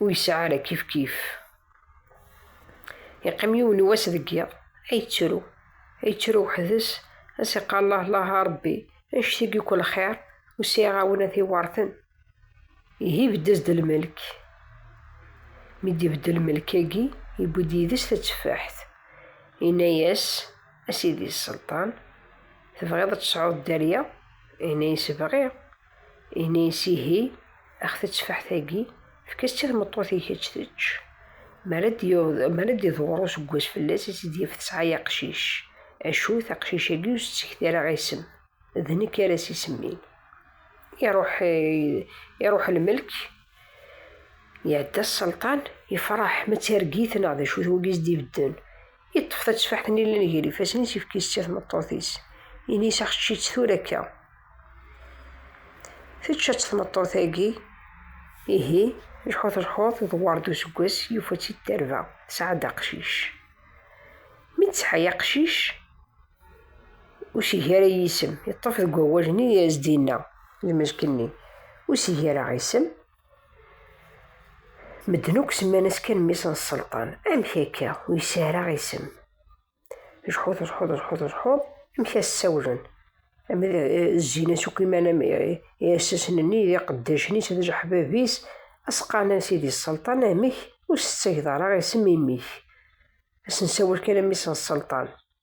ur yesɛi ara kifkif. Yeqqim yiwen n wass deg yiḍ, ay yettru, ay yettru weḥd-s, ad s-iqqar llah llah a Rebbi, annect-agi akk lxir, ur sɛiɣ awen ad t-iweṛten. Ihi ibedd-as-d lmelk. Mi d-ibedd lmelk-agi, yewwi-d yid-s tatteffaḥt. Yenna-yas, A sidi Sselṭan, tebɣiḍ ad tesɛuḍ dderya? Yenna-yas, Bɣiɣ. Ini-as ihi, a ɣ-tettefeḥt-agi, efk-as-tt i tmeṭṭut-ik ad tt-tečč. Mi ara d-iḍwer useggas fell-as, ad tt-id-yaf tesɛa aqcic. Acu, taqcic-agi ur s-ttekti ara isem, d nekk ara s-isemmin. Iruḥ lmelk, iɛedda sselṭan, ifreḥ, ma d targit neɣ d acu-t wagi i s-d-ibedden. Yeṭṭef tateffaḥt-nni llan gar ifassen-is, yefk-itt i tmeṭṭut-is. Ini-as axečč-itt tura akka. Tečča-tt tmeṭṭut-agi, ihi lḥut lḥut, dewwar-d useggas, yufa-tt-id tarba, tesɛa-d aqcic. Mi d-tesɛa aqcic, ur sigi ara yisem, yeṭṭef deg wawal-nni i as-d-yenna lmelk-nni, ur sigi ara isem, Medden akk semman-as kan mmi-s n sselṭan. Amek akka? Ur yesɛi ara isem. Jḥuḍ, jḥuḍ, jḥuḍ, jḥuḍ. Amek ad s-sawlen? Ama d eh, zzin-as akk iman am iɛessasen-nni, eh, d iqeddacen-is, d ijeḥbab-is, ad s-qqaren a sidi sselṭan, amek ur s-tettageḍ ara isem imi-k? Ad s-nsawel kan a mmi-s n sselṭan.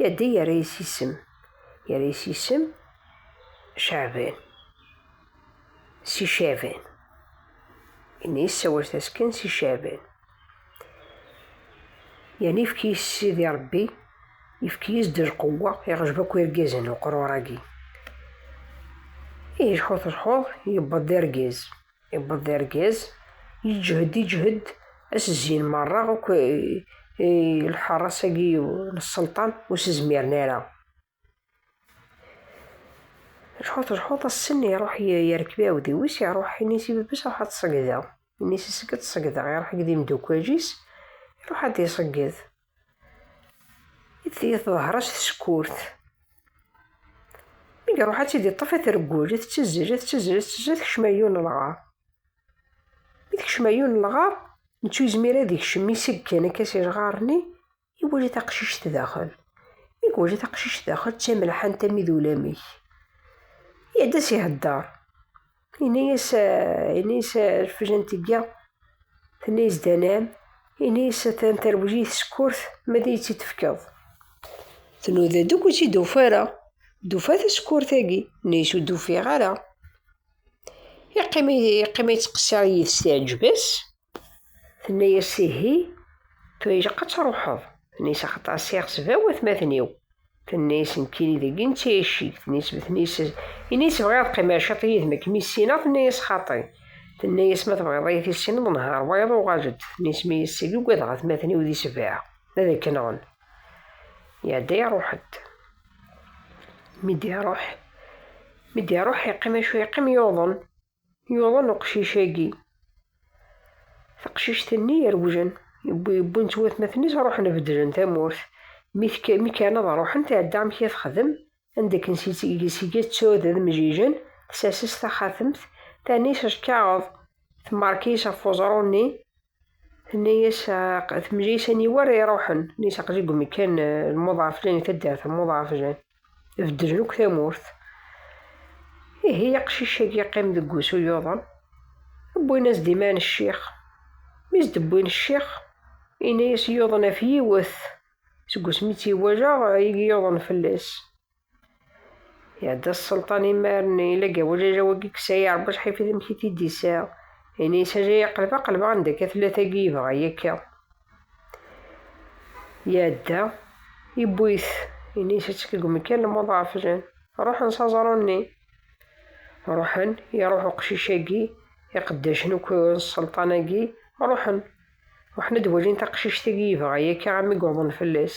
Yadi yerra-yas isem. Yerra-yas isem Caɛban. Si Caɛban. Ini yessawal tasken si Caɛban. Yani yefki-yas Sidi Rebbi, yefki-yas-d lqewwa, iɣjeb akk irgazen uqrur-agi. Ihi lḥut lḥuḍ, yewweḍ d argaz. iwweḍ d argaz yeǧhed iǧhed as-zzin merra akk lḥeṛṛas-agi n ṣṣelṭan ur s-zmiren ara. Lḥut lḥut assen iṛuḥ yerkeb iɛudiw-is iṛuḥ ini-s i baba-s ruḥ ad tṣeggdeɣ. Ini-s isegg ad tṣeggdeɣ iṛuḥ akked imdukal-is iṛuḥ ad d-iṣegged. i d-tili teḍher-as tsekkurt. Mi iruḥ ad tili ṭṭef atreggul, i tettezzel, i tettezzel, i tettezzel, tekcem ayyun n lɣar. Mi tekcem ayyun n lɣar, nettu yezmir ad ikcem iseggen akka si lɣar-nni, iwali taqcict daxel. Mi iwali taqcict daxel, d tamelḥant am id ulamek. Iɛedda si hedder. Ini-as, ini-as refjent tga, tenna-as danam, ini-as atan terwel-iyi tsekkurt, ma ad iyi-tt-id-tefkeḍ. Tnuda-d akk ur tt-id-tufa ara, d-tufa tasekkurt-agi, nni-as ur d-ufiɣ ara. Yeqqim, yeqqim yettqeṣṣir yid-s teɛǧeb-as. Tenna-yas ihi, tura ilaq ad truḥeḍ. Tenna-yas axaṭer asiɣ s bab watmaten-iw. Tenna-yas nekkini deg i netta icik. Tenna-yas ma tenna-yas ini-yas bɣiɣ ad qqimeɣ ciṭ yid-m akken mi ssineɣ tenna-yas xaṭi. Tenna-yas ma tebɣiḍ ad iyi-tissineḍ nher wayeḍ uɣal-d. Tenna-yas ma yessagi ugadeɣ atmaten-iw di sebɛa ad k-nɣen. Iɛedda iruḥ-d. Mi d-iruḥ mi d-iruḥ yeqqim acu yeqqim yuḍen. Yuḍen uqcic-agi. Taqcict-nni irewjen. Wwin-tt watmaten-is, ruḥen beddlen tamurt. Mi kkren ad ruḥen, tɛedda amek i texdem, anda akken seg-a d tured d mjijen, tsers-as taxatemt, terna-as lkaɣeḍ, temmark-is ɣef uẓru-nni, Tenna-yas temla-yas aniwa ara iruḥen nnis aqli deg umekkan lmuḍaf lan taddart lmuḍaf lan beddlen akk tamurt ihi aqcic-agi iqqim deg wusu yuḍen wwin-as-d iman ccix mi s-d-wwin ccix yenna-yas yuḍen af yiwet seg wasmi tt-iwala igi yuḍen fell-as Iɛedda sselṭan imaren ila gawajaj wagi yesɛi Rebbi acḥal i amek i t-id-isɛa. Ini isaja yaqleb aqleb anda akka tella tagi yebɣa yakka. Iɛedda, iwwi-t, ini isaček deg umekkan lmuḍ ɣef jen. Ruḥen s aẓru-nni. Ruḥen, iruḥ uqcic-agi, iqeddacen akk n sselṭan-agi, ruḥen. Ruḥen ad d-wajin taqcict-agi yebɣa yakka ɣami yuḍen fell-as.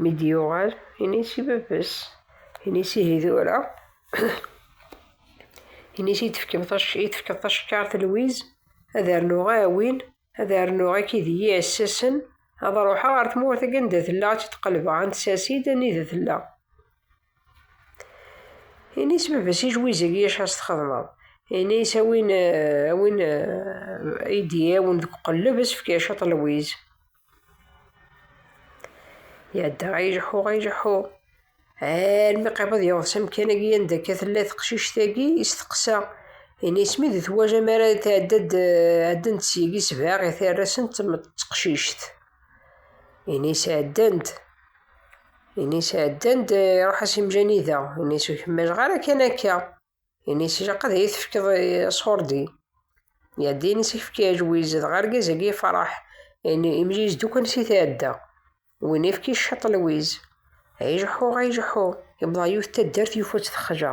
Mi d-yuɣal, ini-s i baba-s. Ini-s ihi tura. Ini-s i d-tefkeḍ tacekkart Lwiz, ad rnuɣ aɛwin, ad rnuɣ akid-iyi ɛessasen, ad ruḥeɣ ɣer tmurt-agi anda tella, ad tt-id-qelbeɣ, ad n-tsers-id anida tella. Ini-as baba si jwizeg i acu ara s-txedmeḍ. Ini-as a win, a win eh, i d-iɛawen deg uqelleb, ad s-fkeɣ ciṭ n lwiz. Iɛedda ay ileḥḥu, ay ileḥḥu. Armi qrib ad yeweḍ s amkan-agi anda akka tella teqcict-agi, isteqsa. Ini-as mi d twajam ara tɛedda-d, eh, ɛeddan-d syagi sebɛa i tarra-sent d teqcict. Ini sɛeddan-d. Ini sɛeddan-d, iruḥ as imjani da. Ini s ur kemmajeɣ ara kan akka. Ini s ilaq ad iyi-tefkeḍ aṣurdi. Iɛedda ini s ifki aǧwiz, dɣa argaz-agi ifraḥ. Ini imjiz dukan si tɛedda. Win ifki ccaṭ lwiz. Ay jeḥḥuɣ, ay jeḥḥuɣ. Yewweḍ ɣer yiwet taddart yufa-tt texla.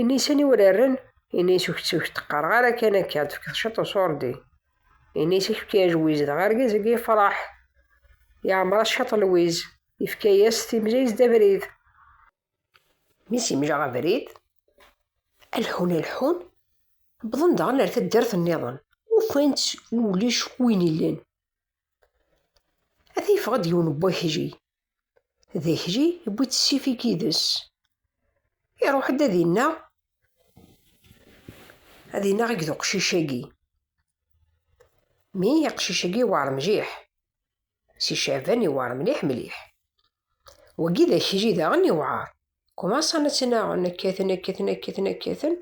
Ini-as aniwa ara rren, ini-as ur k-tt-qqareɣ ara kan akka, ad tefkeḍ ciṭ n uṣurdi. Ini-as i k-fkiɣ ajwiz, dɣa argaz-agi yefṛeḥ. Yeɛmeṛ-as ciṭ lwiz, yefka-yas, timla-yas d abrid. Mi s-yemla abrid, lḥun lḥun, wwḍen daɣen ar taddart-nniḍen, ufan-tt ulac win illan. Ad yeffeɣ-d yiwen n wakli. D akli yewwi-d ssif-ik yid-s. Iruḥ-d ad innaɣ, ad innaɣ i d uqcic-agi. Mi aqcic-agi yewɛer mliḥ. Si Caɛban yewɛer mliḥ mliḥ. Wagi d akli daɣen yewɛer. Kumaṣan ad tt-naɣen, kkaten, kkaten, kkaten, kkaten,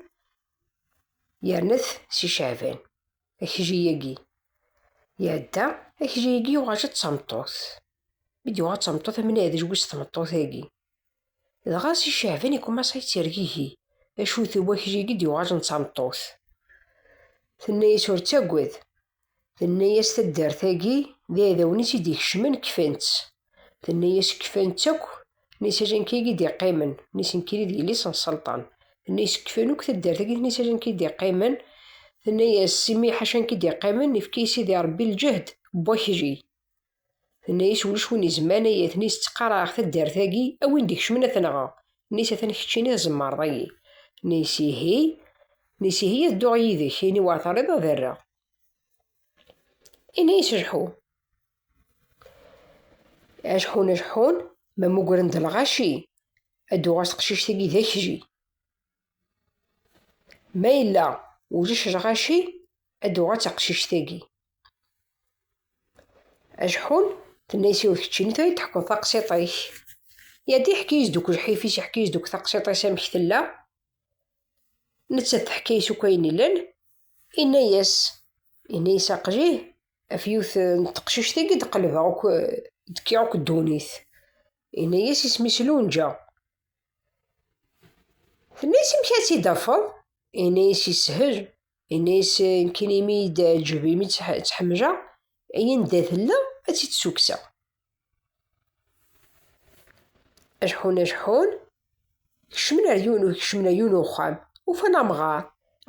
yerna-t Si Caɛban. Akejji-agi iɛedda, akejji-agi yuɣal-d d tameṭṭut. Mi d-yuɣal d tameṭṭut, am neɛdej wis tmeṭṭut-agi. Dɣa si Caɛban ikumas ad yettergigi, acu d wakejji-agi d-yuɣalen d tameṭṭut. Tenna-yas ur ttagad, tenna-yas taddart-agi d iɛdawen-is i d-ikecmen kfan-tt. Tenna-yas kfan-tt akk n isajanka i d-iqqimen, n isenkiri d yelli-s n Selṭan. Tenna-yas kfan akk taddart-agi n isajanka i d-iqqimen, tenna-yas imi ḥacank i d-iqqimen, ifka i Sidi Rebbi lǧehd n wakli. Tenna-yas ulac win izman ay atni tettqaraɛeɣ taddart-agi, a win d-ikecmen ad t-nɣeɣ. Nna-yas atan keččini tzemreḍ-iyi. Nna-yas ihi, nna-yas ihi ad dduɣ yid-k, ayen iwɛer terriḍ ad rreɣ. Inna-yas lḥu. Ajeḥḥun ajeḥḥun, ma mmugren-d lɣaci, ad d-uɣal teqcict-agi d akji. Ma yella ulac lɣaci, ad d-uɣal d taqcict-agi. Ajeḥḥun, tenna-yas yiwet keččini tura i d-teḥkuḍ taqsiṭ-ik. Yad iḥki-yas-d akk lḥif-is, iḥki-yas-d akk taqsiṭ-is amek tella. Nettat teḥka-yas akk ayen illan, inna-yas, inna-yas aqjih, Af yiwet n teqcict i d-qelbeɣ akk d-kkiɣ akk ddunit. Yenna-yas isem-is Lunǧa. Tenna-yas amek ad tt-id-afeḍ? Yenna-yas yeshel. Yenna-yas nekkin imi i d-teɛǧeb, imi tt-ḥemmleɣ, ayen d tella ad tt-id-ssukkseɣ. Ajeḥḥun ajeḥḥun, kecmen ar yiwen, kecmen ar yiwen uxxam, ufan amɣar.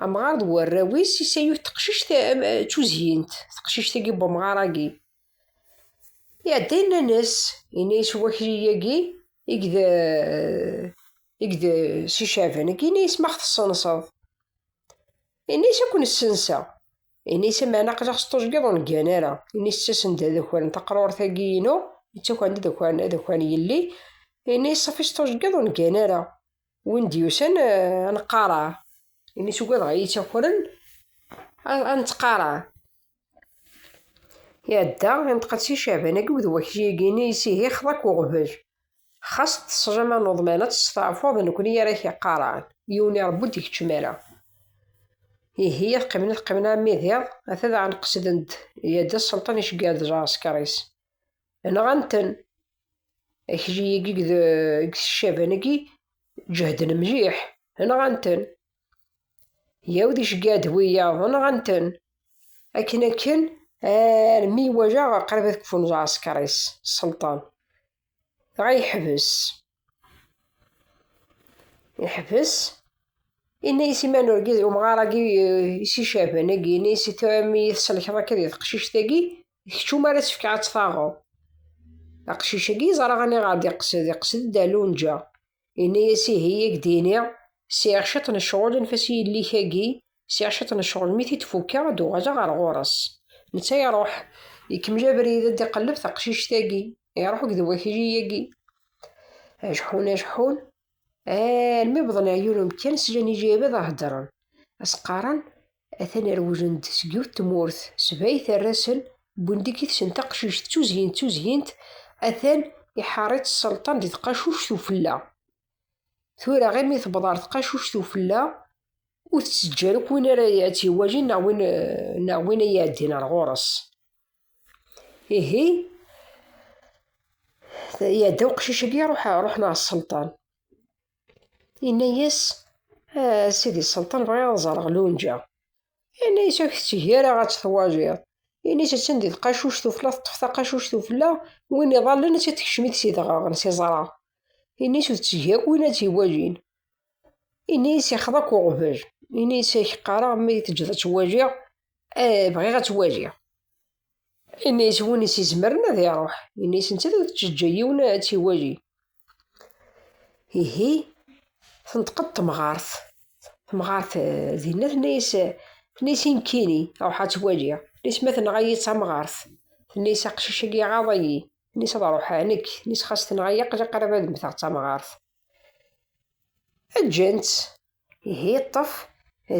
Amɣar d warraw-is, isa yut teqcict d tuzyint, teqcict-agi n umɣar-agi. Iɛedda yenna-as, yenna-as wakli-agi, i d, i d si Caɛban-agi, yenna-as ma ɣ-tessenseḍ. Yenna-as ad ken-ssenseɣ. Inisi meɛna aql-aɣ s tuẓgiḍ ur neggan ara. Inis ttasen-d ad akren taqrurt-agi inu, ittakren-d ad akren ad akren yelli. Inis safi s tuẓgiḍ ur neggan ara. Win d-yusan eh, ad neqqareɛ. Inis ugadeɣ ad iyi-ttakren ad, ad nettqareɛ. Iɛedda, ineṭeq-d si Caɛban-agi wed wakli-agi-nni, issihi xḍa-k uɣbel. Xas ṭṭesjama n uḍman ad testeɛfuḍ d nekkni ara k-iqqaran, yiwen irebbu ur d-ikeččem ara. Ihi ad qqimen ad qqimen armi d iḍ, ata daɣen qesden-d yadda sselṭen iceggar d lɛesker-is. Nɣan-ten. Akejjiyigi deg tcaban-agi ǧehden mliḥ, nɣan-ten. Yaw d iceggar d wiyaḍ, nɣan-ten. Akken akken armi iwajeɣ qrib ad kfun lɛesker-is, sselṭan. dɣa yeḥbes yeḥbes inna-yas i man urgid umɣar-agi si caban agi inna-yas i tɛumi tselkeḍ akka di teqcict-agi kečč umar ad tefkeɣ ad tfaɣeḍ aqcic-agi yeẓra aniɣer d-iqsed iqsed d alunǧa inna-yas ihi ak d-iniɣ sɛiɣ ciṭ n ccɣel anef-as i yelli-k-agi Sɛiɣ cwiṭ n ccɣel, mi t-id-fukkeɣ ad d-uɣaleɣ ɣer ɣur-s. Netta iruḥ, ikemmel abrid ad d-iqelleb taqcict-agi, iruḥ akked wakli-agi. Ajeḥḥun ajeḥḥun, almi wwḍen ar yiwen umekkan, slan ijayeb ad heddren, ad s-qqaren, atan rewlen-d seg yiwet tmurt, sbay terra-sen, wwin-d akkit-sen taqcict d tuzyint d tuzyint, atan iḥeṛṛ-itt sselṭan di tqacuct ufella. tura imi tewweḍ ɣer tqacuct ufella ur tettejja akk win ara tt-iwalin neɣ win neɣ win ay iɛeddin ar ɣur-s ihi iɛedda uqcic-agi ruḥ ruḥen ɣer sselṭan yenna-yas "Ah, sidi sselṭan bɣiɣ ad ẓreɣ lunǧa Ini-as ur k-tetteg ara ad tt-twajiḍ. Ini-as attan di tqacuct ufella, teṭṭef taqacuct ufella, win iḍallen ad tt-tekcem-it si dɣeɣen, si ẓra. Ini-as ur tetteg akk win ad tt-iwajin. Ini-as ixeḍ akk uɣbel. Ini-as ak qqareɣ mi teǧǧeḍ ad tt-wajiɣ, eh, bɣiɣ ad tt-wajiɣ. Ini-as win i s-izemren ad iruḥ. Ini-as nettat ur tettejjey yiwen ad tt-iwali. Ihi, tenṭeq-d temɣart. Temɣart eh, dinna tenna-as eh, tenna-as i nekkini, ruḥ ad tt-waliɣ. Tenna-as ma tenɣa-yi d tamɣart. Tenna-as aqcic-agi iɣaḍ-iyi. Tenna-as ad ruḥeɣ nekk. Tenna-as xas tenɣa-yi aql-i qrib ad mmteɣ d tamɣart. Ǧǧan-tt. Ihi yeṭṭef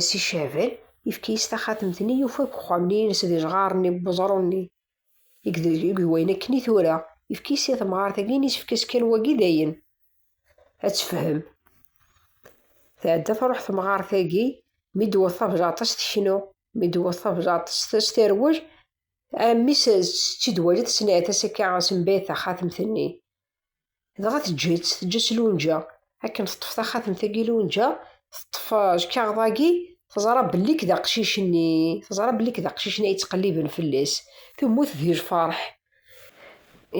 Si Cehbel, yefka-yas taxatemt-nni, yufa deg uxxam-nni-ines d ijɣaren-nni n weẓru-nni. I d wayen akken i tura, yefka-yas i temɣart-agi, yessefk-as kan wagi dayen ad tefhem. Tɛedda truḥ temɣart-agi, mi d-tewweḍ tabjaṭ-is teknu, mi d-tewweḍ tabjaṭ-is s terwel, armi tt-id-wali tesneɛt-as akka sembayet taxatemt-nni. Dɣa teǧǧa-tt, teǧǧa-tt Lunǧa. Akken teṭṭef taxatemt-agi Lunǧa, teṭṭef lkaɣeḍ-agi, teẓra belli-k d aqcic-nni, teẓra belli-k d aqcic-nni ay ttqelliben fell-as, temmut di lfeṛḥ.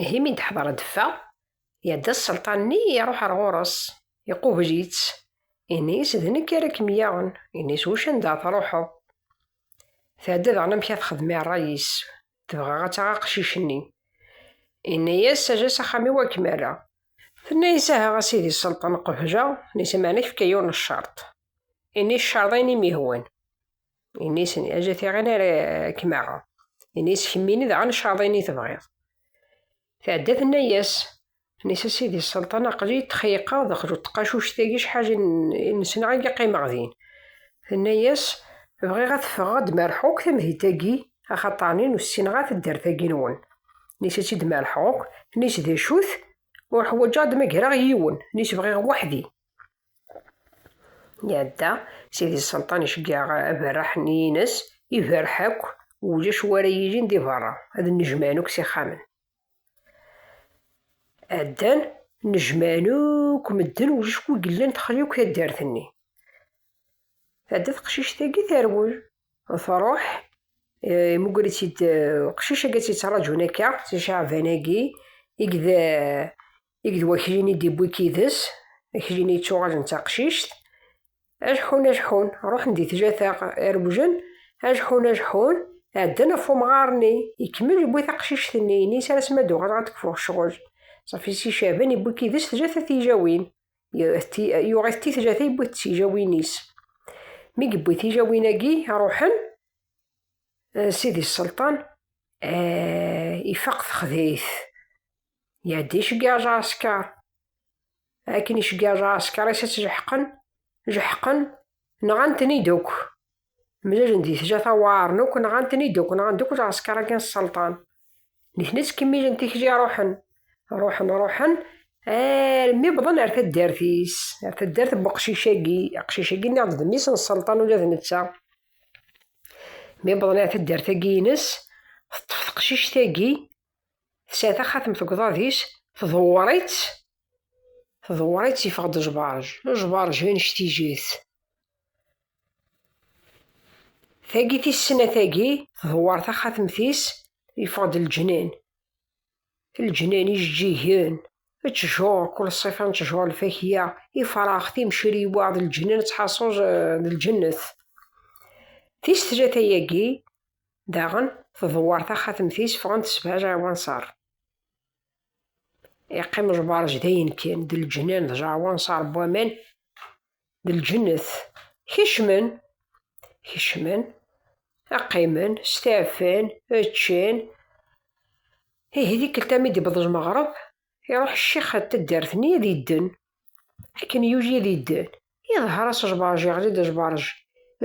Ihi mi d-teḥḍer ad d-teffeɣ, iɛedda sselṭan-nni, iṛuḥ ar ɣur-s, iqubel-itt, inna-as, D nekk ara kem-yaɣen. Inna-as, Ucanda ad tṛuḥeḍ? Tɛedda daɣen amek ad texdem i ṛṛay-is, Tebɣa ad taɣ aqcic-nni. Inna-yas, sajas axxam-iw ad kem-rreɣ. Tenna-yas, aha a sidi sselṭen qbel a nisa meɛna kfek a yiwen ccerṭ. Ini ccerḍ ayen i m-yehwan. Ini-as, aja tiɣin ara kem-aɣeɣ. Ini-as, kemmini daɣen ccerḍ ayen i tebɣiḍ. Tɛedda tenna-yas, Nis a sidi sselṭan aql-i txeyqeɣ daxel u tqacuct-agi cḥal i nesneɣ agi qqimeɣ din. Tenna-yas, Bɣiɣ ad teffɣeɣ ad d-merḥeɣ akk tamdint-agi axaṭer nin ur ssineɣ ara taddart-agi-nwen. Nis a tt-id-merḥeɣ akk, nis d acu-t? Ur ḥwaǧeɣ ad d-magreɣ yiwen, nis bɣiɣ weḥd-i. Iɛedda, Sidi Selṭan iceggeɛ aberraḥ n yines, iberreḥ akk, ulac wa ara yilin di berra, ad nnejmaɛen akk s ixxamen. Ɛeddan, nnejmaɛen akk medden, ulac wi yellan texli akk taddart-nni. Tɛedda teqcict-agi terwel, truḥ, imugger-itt-id uqcic-agi ad tt-yettraǧun akka, si Caɛban-agi, i i d wakli-nni i d-iwwi deg yid-s, akli-nni yettuɣalen d taqcict, ajeḥḥun ajeḥḥun, ruḥen di tlata irewjen, ajeḥḥun ajeḥḥun, ɛeddan ɣef umɣar-nni, ikemmel iwwi taqcict-nni, ini-as ar asmi ad d-uɣaleɣ ad d-kfuɣ ccɣel. Ṣafi Si Caɛban iwwi deg yid-s tlata tijawin, yuɣ-it ti tlata yewwi-t s ijawin-is. Mi yewwi tijawin-agi ruḥen, Sidi Sselṭan ifaq texdayt, Ya d iceggaẓ aɛeskar. Akken iceggaẓ aɛeskar is as jeḥqen, jeḥqen, nɣan-ten-id akk. Mlalen di tjata waɛren akk, nɣan-ten-id akk, nɣan-d akk lɛeskar akken sselṭan. Nitni ttkemmilen tikli ruḥen, ruḥen, ruḥen, armi wwḍen ar taddart-is, ar taddart n weqcic-agi, aqcic-agi nniɣ-d d mmi-s n sselṭan ula d netta. Mi wwḍen ar taddart-agi-ines, teṭṭef teqcict-agi, tesɛa taxatemt deg uḍad-is tḍewwer-itt tḍewwer-itt yeffeɣ-d jbarj jbarj anect-ijit tagi tis snat tagi tḍewwer taxatemt-is yeffeɣ-d leǧnan leǧnan ijeǧǧigen ttjur kul ṣṣifa n ttjur lfakya ifrax timcriwa d leǧnan ttḥaṣuj d lǧennet tis tlata yagi Daɣen, tḍewwer taxatemt-is, ffɣent sebɛa lɛawanṣar. Yeqqim lberj d ayen kan, d leǧnan, d lɛawanṣar n waman, d lǧennet. Kecmen, kecmen, qqimen, steɛfan, ččan. Ihi tikkelt mi d-iwweḍ lmeɣreb, iruḥ ccix ar taddart-nni ad idden. akken yuji ad idden iḍher as jbarj iɣli-d jbarj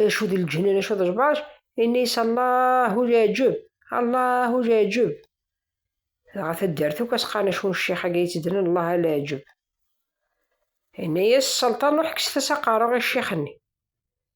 acu d lǧennan acu d jbarj ini-yas allahu leɛǧeb allahu leɛǧeb dɣa taddart akk as qqaren acu n ccix agi yettednen allah leɛǧeb ini-yas salṭan ruḥ kkset-as aqaru i ccix-nni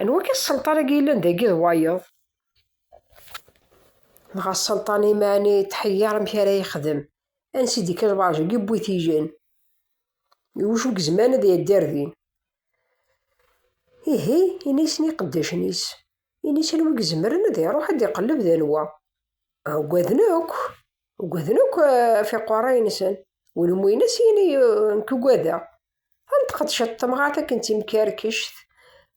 Anwa-k a sselṭan agi yellan dagi d wayeḍ? Dɣa sselṭan imɛani tḥeyyaṛ amek ara yexdem. Ansi d-ikka lbaṛj agi wwi tijen. Iwacu gezman ad iɛeddi ar din? Ihi, ini-asen i iqeddacen-is. Ini-s anwa i izemren ad iṛuḥ ad iqelleb d anwa. Ugaden akk, ugaden akk afiqwaṛ-a-insen. Win umi ini-as, ini, nekk ugadeɣ. Tenṭeq-d temɣart akken d timkerkect,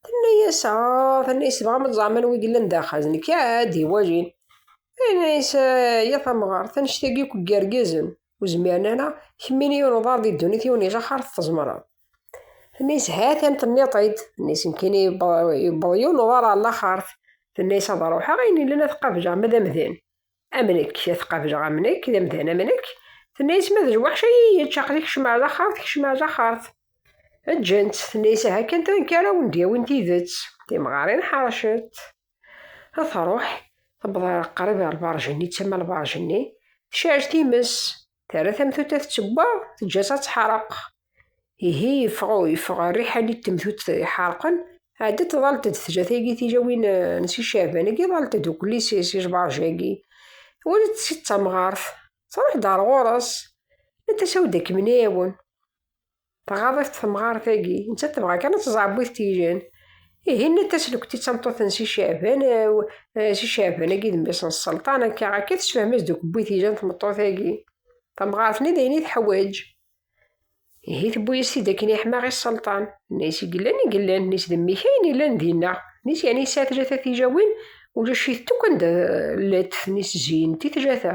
tenna-yas, ah, tenna-yas tebɣam ad ẓeɛmen wid yellan daxel, d nekk ad d-iwalin. Tenna-yas, ah, ya tamɣart, annect-agi akk n yergazen ur zmiren ara, kemmini yiwen uḍar di ddunit, yiwen ijaxar tezemreḍ. Tenna-yas, ha-t-an tenniḍ-t-id, tenna-yas, mkini yewweḍ yiwen uḍar ɣer laxert, tenna-yas ad ruḥeɣ, ayen yellan ad t-qabjeɣ, ma d amdan. am nekk ad qableɣ am nekk d amdan am nekk tenna-yas ma d lweḥc ay iyi-yečč aql-i kecm ar laxert kecm ar laxert ǧǧan-tt tenna-yas aha kan tenka ara wen-d-yawin tidet timɣarin ḥercent ad tṛuḥ tewweḍ ar qrib ar lberj-nni d tama lberj-nni tcerreg times Terra tamtuta tettewwaɣ, teǧǧa-tt ad teḥreq. Ihi yeffeɣ yeffeɣ rriḥani n temtut iḥerqen, ɛeddi tḍalt-d tjat-agi tilawin n si Caɛban-agi, ḍalt-d ukli si Jbarjagi. Walit si d tamɣart, truḥ-d ar ɣur-s, nant-as awi-d ad kem-nɛiwen. Tɣaḍ-it temɣart-agi, nettat tebɣa kan ad teẓɛebbu-it tijen. Ihi nna Taslukt i tameṭṭut n Si Caɛban, Si Caɛban-agi d mmi-s n Sselṭan, akka akka tessefhem-as-d ukebbu i tijen tmeṭṭut-agi. Tamɣart-nni d ayen i teḥwaǧ. Ihi tewwi-yas-t-id akken yeḥma ɣi Sselṭan. Nna-yas i yellan i yellan, nna-yas d mmi-k ayen yellan dinna. Nna-yas yeɛni yesɛa tlata tijawin, ulac-itent akk anda llant, nna-yas zeyint i tlata.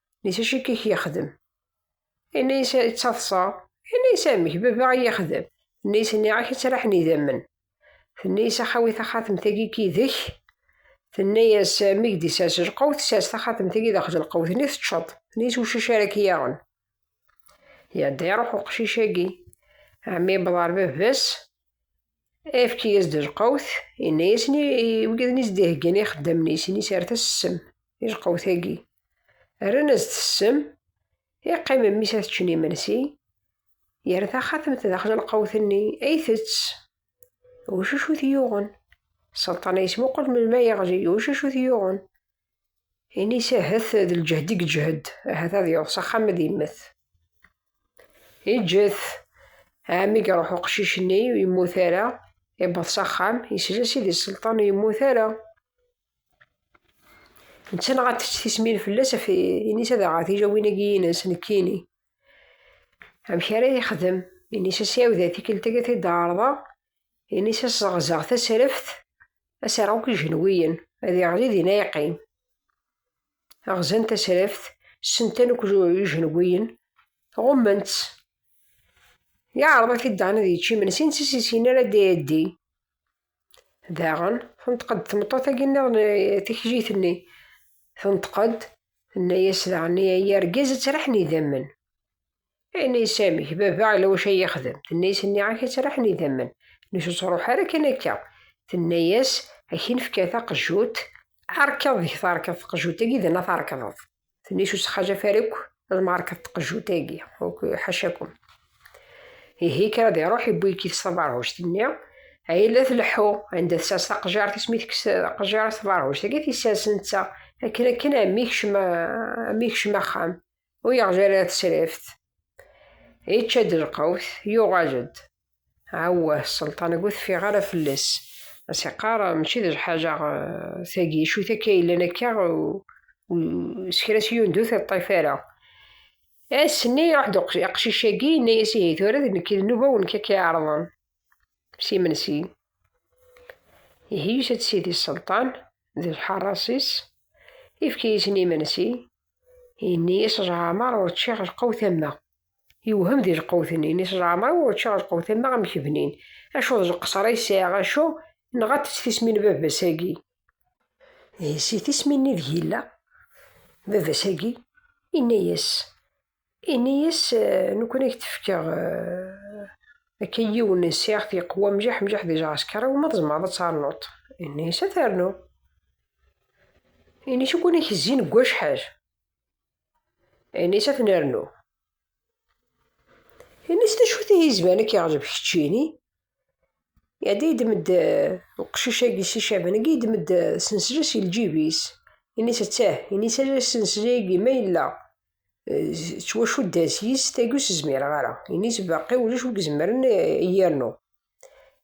Nit acu i k-yexdem? Inna-yas ttaḍsa. Inna-yas amek, baba i yexdem. Inna-yas nniɣ-ak ad traḥen idammen. Tenna-yas axawi taxatemt-agi k idek. Tenna-yas mi k-d-isers lqewt, sers taxatemt-agi daxel lqewt-nni teččeḍ. Tenna-yas ucac ara k-yaɣen. Yadda iruḥ uqcic-agi, ɛemmi yewweḍ ɣer baba-s, efk-iyi-as-d lqawt, yenna-yasen i wigiden i s-d-iheggan ixeddamen-is, ini-s ar tassem i lqawt-agi. Rran-as-d tessem, iqqim mmi-s ad ččen imensi, yerra taxatemt daxel lqawt-nni, ay tett. Ucuc ur t-yuɣen. Selṭan yesmuqul melmi ay yeɣli, ucuc ur t-yuɣen. Ini-s ahat d lǧehd i yeǧhed, ahat ad yeḍs axxam ad yemmet. Yeǧǧet, ɛemmi iruḥ uqcic-nni, ur yemmut ara, iwweḍ s axxam, yesla Sidi Selṭan ur yemmut ara. Netta neɣ ad tečč tismin fell-as, ini-s ad aɣeɣ tijawin-agi-ines, nekkini. Amek ara yexdem? Ini-s a s-ɛiwed tikkelt-agi ad t-id-ɛerḍeɣ, Ini-s ad sɣeẓẓeɣ tasraft, ad s-rreɣ akk ijenwiyen, ad iɣli dinna yeqqim. Ɣzan tasraft, ssentan akk ijenwiyen, ɣummen-tt. Yeɛreḍ ad t-id-dan ad yečč imensi, netta s yessin ara ad d-iɛeddi. Daɣen, tenṭeq-d tmeṭṭut-agi nniḍen eh, tikjit-nni. Tenṭeq-d, tenna-yas daɣen i ay argaz ad traḥen idammen. Ayen ay Sami, baba ala wacu ay yexdem. Tenna-as nniɣ-ak ad tt-raḥen idammen. Nnek ur ttruḥ ara kan akka. Tenna-as ad k-nefka taqejjut, ɛerkeḍ deg terkeḍ tqejjut-agi d ana terkeḍeḍ. Tenna-as ur ttxajaf ara akk ad merkeḍ tqejjut-agi, ḥacakum. Ihi kker ad iruḥ iwwi-k-it s taberhuct-nni, ay la tleḥḥu, anda tsers taqejjart-is mi tekkes taqejjart taberhuct-agi, tissers netta. Akken akken, ɛemmi kcem axxam. ur yeɣzi ara tesrift yečča-d lqawt yuɣal-d awah sselṭan ur teffiɣ ara fell-as as iqqar mačči d lḥaǧa eh, tagi acu takka yellan akka s kra s yundu tiṭṭif ara ass-nni iruḥ-d aqcic-agi yenna-yas ihi tura d nekk d nnuba wen kak iɛerḍen s imensi ihi yusa-d sidi sselṭan d lḥaṛas-is ifka-yasen imensi Ini-yas Ǧɛamar ur ččiɣ lqewt am wa. Yewhem di lqewt-nni. Ini-yas Ǧɛamar ur ččiɣ lqewt am wa amek bnin. Acu d leqṣer ay sɛiɣ acu? Nɣant-tt tismin n baba-s-agi. Ihi si tismin-nni ideg yella baba-s-agi, yenna-yas. Ini-yas nekkni i k-d-fkeɣ akka yiwen n ssiɣt yeqwa mjaḥ mjaḥ di lɛesker, iwumi tzemreḍ ad ternuḍ? Ini-yas ad ternu. Ini-yas ukin i k-zzin deg wacḥal? Ini-yas ad ten-rnu. Ini-yas d acu-t ihi izban ad k-iɛǧeb keččini? Iɛedda yedem-d uqcic-agi si Caban-agi yedem-d sensla si lǧib-is. Ini-yas ttah, ini-yas asenslay-agi ma yella ttwacuddhen s yis tagi ur s-zmireɣ ara. Ini-s baqi ulac wi izemren a yi-yernu.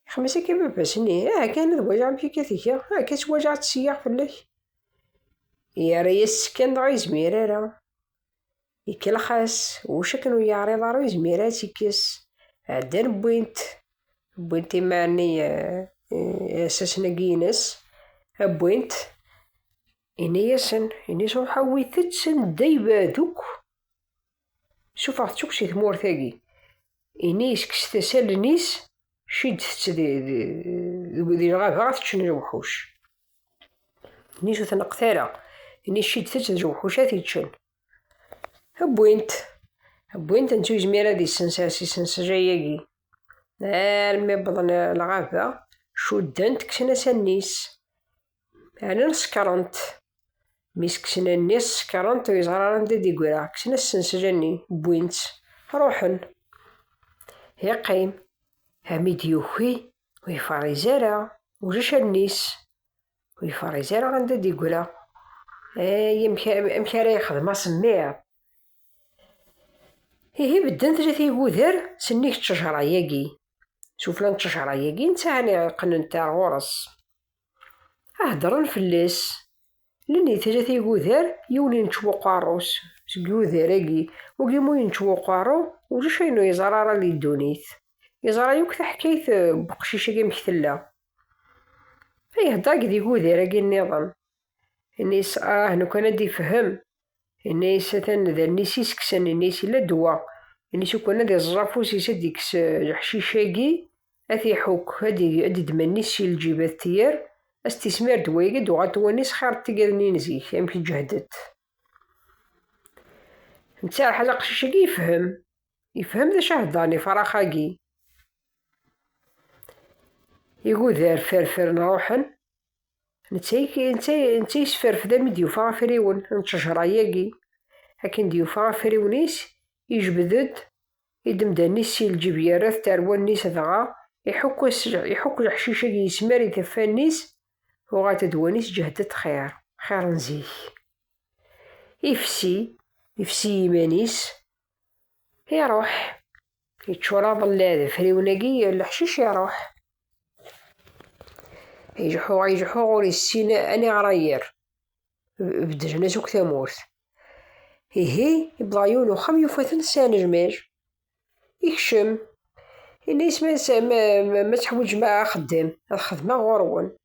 Ixem-as akka baba-s, ini, aha kan ad waliɣ amek akka tga, aha kan ttwaliɣ ad tt-seyyeɣ fell-ak. Yerra-yas-tt kan dɣa yezmir ara. Ikellex-as, ulac akken ur yeɛriḍ ara ur yezmir ara ad tt-ikkes. Ɛeddan wwin-t, wwin-t imaɛni asasen-agi-ines, wwin-t. Ini-yasen, ini-s ruḥ awit-tt anda ibad akk. Suffeɣ-tt akk si tmurt-agi. Ini-s kkset-as allen-is, ciddet-tt di lɣaba ad teččen lewḥuc. Ini-s ur tneqqet ara. Ini ciddet-tt d lewḥuc ad t-iččen. Wwin-t. Wwin-t netta ur yezmir ad isens ar s isensejay-agi. Armi wwḍen lɣaba, cudden-t, kksen-as allen-is. Ɛnan sekrent. Mi s-kksen allen-is sekrent ur yeẓri ara anda d-igra. Kksen asensel-nni, wwin-tt, ruḥen. Yeqqim, armi d-yuki, ur yefṛiz ara, ulac allen-is. Ur yefṛiz ara anda d-igra. Ay, amek ara yexdem asemmiḍ! Ihi bedden tlata iguder sennig ttejṛa-yagi. Sufella n ttejṛa-yagi, netta ɛni qqnen-t ar ɣur-s. Aheddren fell-as. Lili tlata igudar yiwen yenčew uqerru-s seg yudar-agi, wagi mu yenčew uqerru ulac ayen ur yeẓra ara di ddunit. Yeẓra yakk taḥkayt eh, n uqcic-agi amek tella. Ihedder-agi d igudar-agi nniḍen. Ini-as ah, lukan ad d-ifhem. Yenna-yas atan d allen-is i s-kksen, yenna-yas yella ddwa. Yenna-yas ukwan ad iẓẓeẓ afus-is, ad d-ikkes leḥcic-agi, ad t-iḥukk, ad d-idd mmi-s si lǧib, ad t-yerr, ad s-t-ismir ddwa-agi, ad d-uɣal tewwanni-s xir n tigadni n zik, amek i ǧehdet. Netta Rḥal aqcic-agi yefhem, yefhem d acu i heddren ifrax-agi. Igudar ferfren ruḥen. netta yesferfed am i d-yufa afriwen n ttejra-agi. Akken d-yufa afriwen-is, yejbed-d idemdan-is si lǧib yerra-t tarwa-nni-s dɣa iḥukk leḥcic-agi yesmar i taffa-nni-s, uɣal tedwa-nni sǧehdet xir, xir n zik. Ifsi, ifsi iman-is, iruḥ yeččur aḍella d afriwen-agi leḥcic iruḥ ijeḥuɣ ijeḥuɣ ur yessin aniɣra yir beddlen-as akk tamurt ihi ibḍa yiwen uxxam yufa-ten s anejmej ikcem ini-as ma teḥwiǧem axeddem ad xedmeɣ ɣur-wen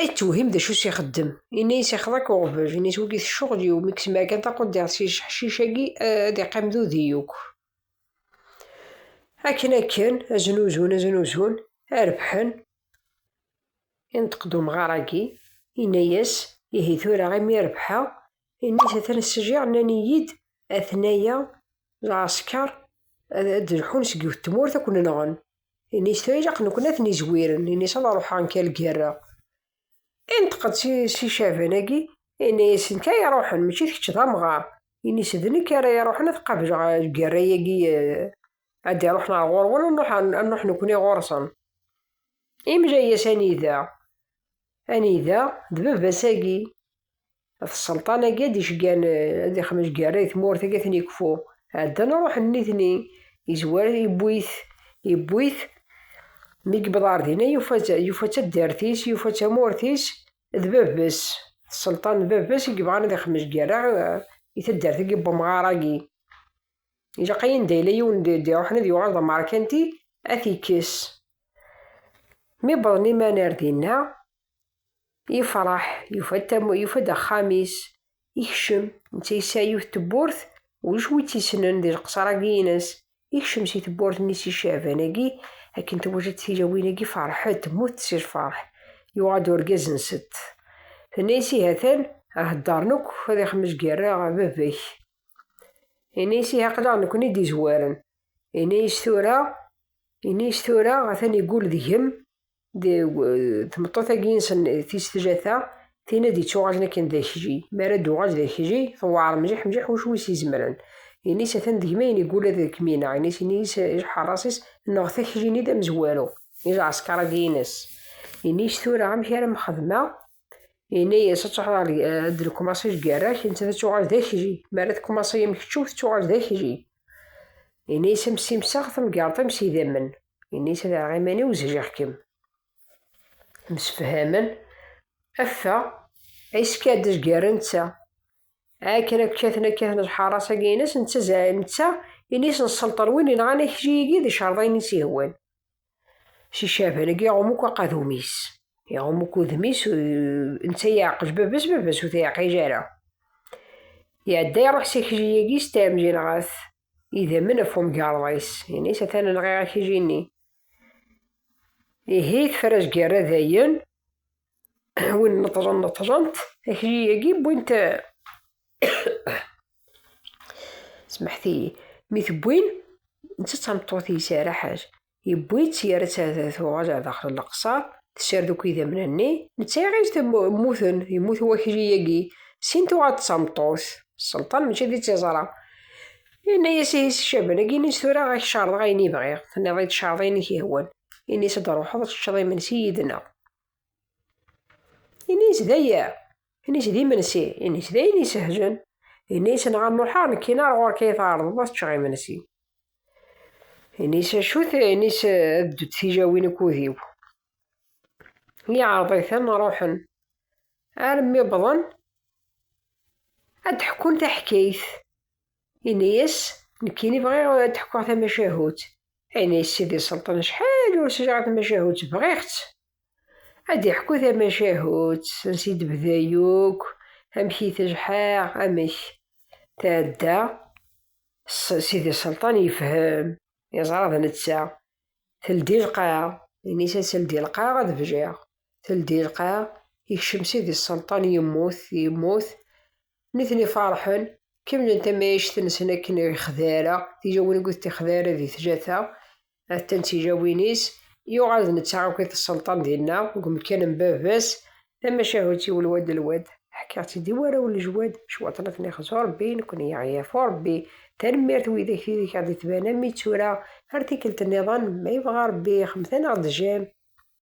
Ay tewhim d acu i s-ixeddem. Yenna-yas ixḍa-k uɣbel, yenna-yas wigi s ccɣel-iw, mi k-semɛa kan taquddiɣt s yijeḥcic-agi ad iqqim d udi yakk. Akken akken, aznuzun aznuzun, a rebḥen, inṭeq-d umɣar-agi, yenna-yas, ihi tura imi rebḥeɣ, yenna-yas atan ssjiɣ, nnan-iyi-d atnaya lɛesker ad d-lḥun seg yiwet tmurt ad ken-nɣen. Ini-s tayleq nekni ad ten-izwiren, ini-s ad ruḥeɣ nekk ad lgerreɣ. Inṭeq-d si Caban-agi, yenna-yasen kan iruḥen, mačči d kečč d amɣar. Ini-s d nekk ara iruḥen ad qableɣ lgerra-agi ad d-iruḥen ɣer ɣur-wen, ad nruḥ nekni ɣur-sen. Imla-yas anida? Anida? D baba-s-agi. At sselṭan-agi ad d-iceggan, ad d-ixmec gerra i tmurt agi ad ten-ikfu. Ɛeddan ruḥen nitni, izwar iwwi-t, iwwi-t, mi yewweḍ ɣer dinna yufa-tt, yufa taddart-is, yufa tamurt-is d bab-s, d sselṭan d bab-s i yebɣan ad ixmec gerra i taddart-agi n wemɣar-agi. Ilaq ay anda yella yiwen d-iruḥen ad yuɣal d amerkanti ad t-ikkes. Mi wwḍen iman ar dinna, Yefṛeḥ, yufa-d axxam-is, yekcem, netta yesɛa yiwet tewwurt, ulac wi tt-yessnen di leqṣer-agi-ines, yekcem si tewwurt-nni si Caɛban-agi, akken tewwet-tt tilawin-agi ferḥet, mmutent si lfeṛḥ, yuɣal-d urgaz-nsent, tenna-yas ihi atan heddṛen akk ad ixmec gar-aɣ baba-k, yenna-yas ihi aql-aɣ nekni i d-izwaren, yenna-yas tura, yenna-yas tura atan igul deg-m tmeṭṭut-agi insen tis tjata tin ad ittuɣalen akken d akji mi ara d-uɣal d akji tewɛer mliḥ mliḥ wacu wis izemren ini-s atan deg ma ini gula d kmina ini-s ini-s iḥeṛṛas-is neɣ takjini d amezwaru i lɛesker-agi ines ini-s tura amek ara mxedmeɣ ini-yas ad tuɣal ad d-nkumaṣi lgerra-k netta ad tuɣal d akji mi ara tkumaṣi am keččum tettuɣal d akji ini-yas am simseɣ tamgerḍt am s idammen Ini-as ad aɣeɣ iman-iw zhiɣ-kem. Msefhamen, affeɣ, iskad gar netta. Akken ad kkaten ad kkaten lḥaras-agi-ines, netta zɛi netta, ini-as nselṭer win yenɣan akli-agi d icerḍayen-is ihwan. S icaban-agi iɣum akk aqadum-is. Iɣum akk udem-is, netta yeɛqej baba-s, baba-s ur t-yeɛqij ara. Iɛedda iruḥ s akli-agi s tɛemjinɣat, Idammen ɣef umgarḍ-is, ini-s atan nɣiɣ akijini. Ihi tefra azgerra dayen, win neṭṭlen neṭṭlent, akiji-agi wwint smeḥtiyi, mi tewwin, netta d tameṭṭut-is ara ḥaj, Yewwi-tt yerra-tt ad tuɣal ar daxel n leqṣer, tessared akk idammen-nni, netta iɣil-d mmuten, yemmut wakli-agi, sin tuɣal d tameṭṭut, sselṭan mačči d tiẓra. Yenna-yas i Caban, agi ini-s tura ad k-cerḍeɣ ayen i bɣiɣ, tenniḍ-iyi-d cerḍ ayen i k-yehwan, ini-s ad d-ruḥeḍ ad teččeḍ imensi yid-neɣ. Ini-s d aya, ini-s d imensi, ini-s d ayen isehlen, ini-s neɣ ad n-ruḥeɣ nekkini ar ɣur-k ay tɛerḍeḍ ad teččeɣ imensi. Ini-s acu-t, ini-s ad ddu tijawin ukud-iw. Iɛreḍ-iten ruḥen. Armi wwḍen ad d-ḥekkun taḥkayt. Ini-yas, nekkini bɣiɣ ad d-ḥkuɣ tamacahut. Ini-yas Sidi Selṭan acḥal ur sliɣ a tamacahut, bɣiɣ-tt. Ad d-iḥku tamacahut, ansi d-bda yakk, amek i t-jḥaɣ, amek. Tɛedda. Sidi Selṭan yefhem, yeẓra d netta. Teldi lqaɛ, ini-s ad teldi lqaɛ ad bjiɣ. Teldi lqaɛ, yekcem Sidi Selṭan yemmut, yemmut. Nitni farḥen, kemmlen tamayact-nsen akken ixdara, tijawin n wid tixdara di tjata. Atan tijawin-is, yuɣal d netta akk i t-sselṭan dinna, deg umekkan n baba-s, tamacahut-iw lwad d lwad. Ḥkiɣ-tt-id i warraw n lejwad, cwiṭ n at nixẓ u Rebbi, nekkni i aɣ-yafu Rebbi. Tanemmirt i widak i ak-d-ittban am i d tura, ar tikkelt nniḍen, ma yebɣa Rebbi, xemten-aɣ-d jam.